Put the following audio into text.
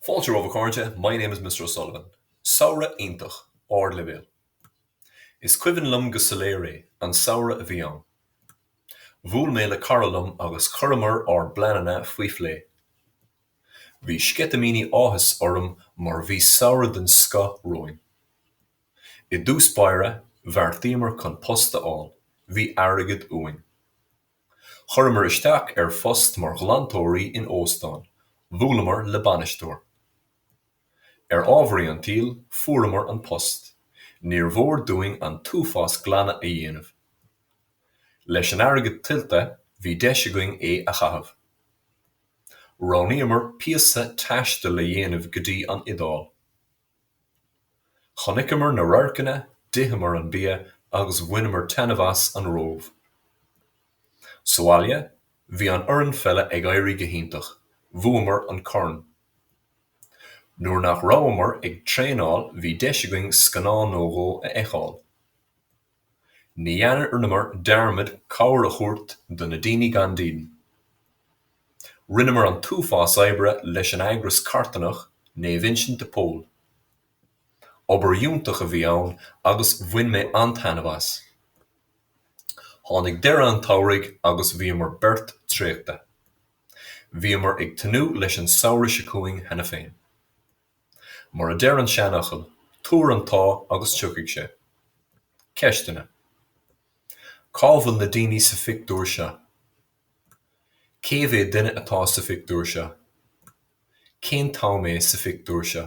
Fáilte romhaibh a chairde, my name is Mr O'Sullivan. Samhradh iontach, ardleibhéil. Is cuimhin liom go soiléir é, an samhradh a bhí ann. Bhuail mé le cara liom agus chuireamar ár bpleananna faoi phlé. Bhí sceitimíní áthais orm mar bhí samhradh den scoth romhainn. I dtús báire, bheartaíomar chun post a fháil, bhí airgead uainn. Chuireamar isteach ar phost mar ghlantóirí in óstán. Bhuaileamar le bainisteoir. Ar ámharaí an tsaoil, fuaireamar an post. Níor mhór dúinn an t-uafás glanadh a dhéanamh. Leis an airgead tuillte, bhí deis againn é a chaitheamh. Roghnaíomar píosa taistil le dhéanamh go dtí an Iodáil. Chonaiceamar na radharcanna, d'itheamar an bia agus bhaineamar taitneamh as an Róimh. Sa bhaile, bhí an fhoireann pheile ag éirí go hiontach, bhuamar an corn. Nuair nach rabhamar ag traenáil bhí deis againn scannán nó dhó a fheiceáil. Ní dhearnamar dearmad cabhair a thabhairt do na daoine gan díon. Rinneamar an t-uafás oibre leis an eagras carthanach Naomh Uinseann de Pól. Obair iontach a bhí ann agus bhain mé an-taitneamh as. Tháinig deireadh an tsamhraidh agus bhíomar beirt traochta. Bhíomar ag tnúth leis an samhradh seo chugainn cheana féin. Mar a deir an seanfhocal, Tabhair an t-ádh agus tiocfaidh sé. Ceisteanna, Cá bhfuil na daoine sa phictiúr seo? Cé mhéad duine atá sa phictiúr seo? Cén t-am é sa phictiúr seo?